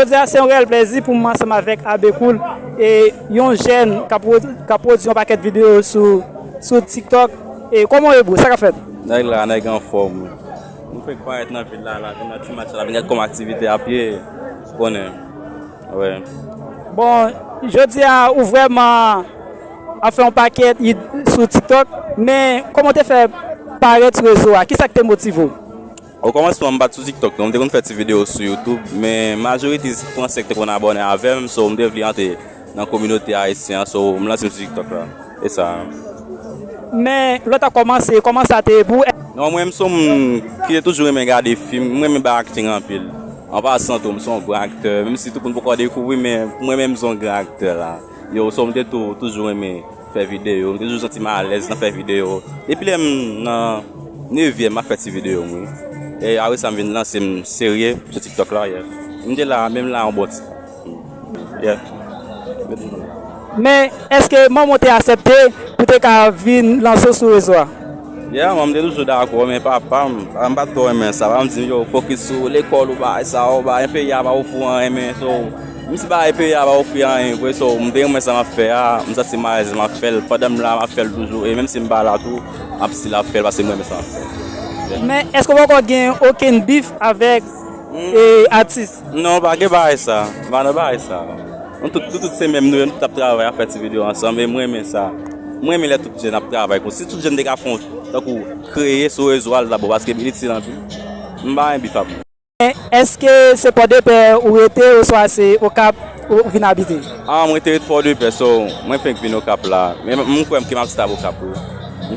Jodi a se yon reyèl plezi pou m ansanm avèk Abbé Cool, yon jèn k ap pwodui yon pakèt videyo sou TikTok. Kòman w ye bro, sa k ap fèt? Nèg la, nèg anfòm wi. Nou fenk parèt nan vil la, la vin nan Timatch la, vin gad kòman aktivite ap ye, ou konnen wi. Bon, jodi a ou vrèman ap fè yon pakèt it sou TikTok, men kòman w te fè parèt sou rezo a? Kisa k te motive w? O kòmansman m pat sou tiktok non m te konn fè ti video sou youtube men majorite se fransè ki te konn abòne avèm so m te vle antre nan kominote ayisyen an so m lansem sou tiktok la e sa a. Men lòt a kòmanse, kòman sa te ye pou ou? Non mwen m son moun ki te toujou renmen gade fim, m renmen bay acting anpil. An pasan tou m son gran aktè menm si tout moun poko dekouvri men mwen menm m son gran aktè la. Yo so m te tou toujou renmen. Fè videyo, m toujou santi m alèz nan fè videyo. Depi lè m nan nevyèm m ap fè ti videyo m wi. E apre sa m vin lanse m serye sou tiktok la. M te la a menm la a yon bon ti tan. Men èske manman w te asèpte pou te ka vin lanse w sou rezo a? Ya, manman m te toujou dakò men papa m, papa m pa t twò renmen sa. Papa m di m yo fokis sou lekòl ou bagay sa, ou pa enpe ya pa ou pou anyen men. Menm si bagay peyi a pa ofri anyen vre so m te renmen sa map fè a m santi m alèz lè map fèl pandan m la map fèl toujou e menm si m pa la tou map stil ap fèl paske m renmen sa map fè. Men èske ou poko gen okenn bif avèk atis? Non pa gen bagay sa, m pa nan bagay sa nou tout se menm nou ye nou tout ap travay ap fè ti video ansanm e m renmen sa m renmen lè tout jèn ap travay konsa si tout jèn te ka fon tankou kreye sou rezo a l ta bon paske m itil anpil m pa gen bif ak moun. Eske se pòdepè ou rete oswa se okap ou vin abite? Mwen te ret pòdepè so mwen fenk vin okap la men m kwèm ke map stab okap wi.